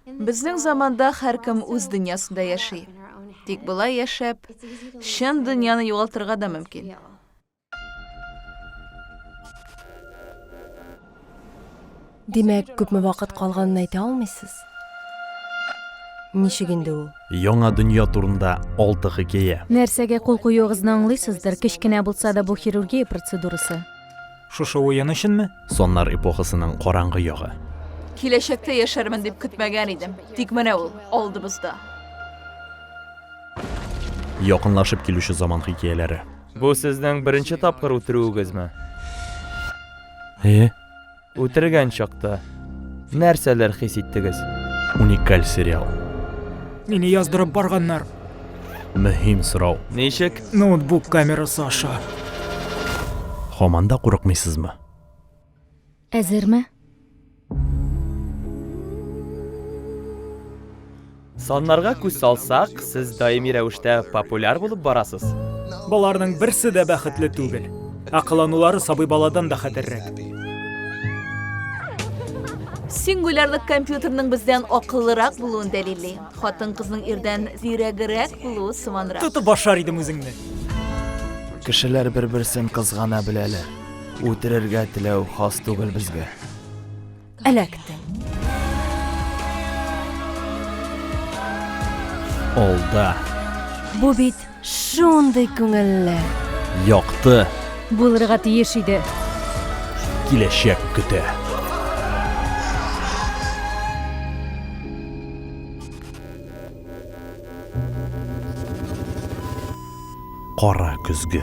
Безнең заманда һәркем үз дөньясында яши. Тик болай яшәп, чын дөньяны югалтырга да мөмкин. Димәк, күпме вакыт калганын әйтә алмыйсыз? Ничек инде ул? Яңа дөнья турында алты хикәя. Нәрсәгә кул куюыгызны аңлыйсыздыр, кечкенә булса да бу хирургия процедурасы. Шушы уен өченме? Соннар эпохасының караңгы ягы. Киләчәктә яшәрмен дип көтмәгән идем. Тик менә ул, алдыбызда. Якынлашып килүче заман хикәяләре. Бу сезнең беренче тапкыр үтерүегезме? Әйе. Үтергән чакта нәрсәләр хис иттегез? Уникаль сериал. Мине яздырып барганнар. Мөһим сорау. Ничек? Ноутбук камерасы аша. Һаман да курыкмыйсызмы? Әзерме? Саннарга күз салсак, сез даими рәвештә популяр булып барасыз. Боларның берсе дә бәхетле түгел. Акылланулары сабый баладан да хәтәррәк. Сингулярлык компьютерның бездән акыллырак булуын дәлилли. Хатын-кызның ирдән зирәгерәк булуы сыманрак. Тотып башар идем үзеңне. Кешеләр бер-берсен кызгана беләләр. Үтерергә теләү хас түгел безгә. Эләктем. Алда. Бу бит Шундый күңелле. Якты. Булырга тиеш иде. Киләчәк көтә. Кара көзге.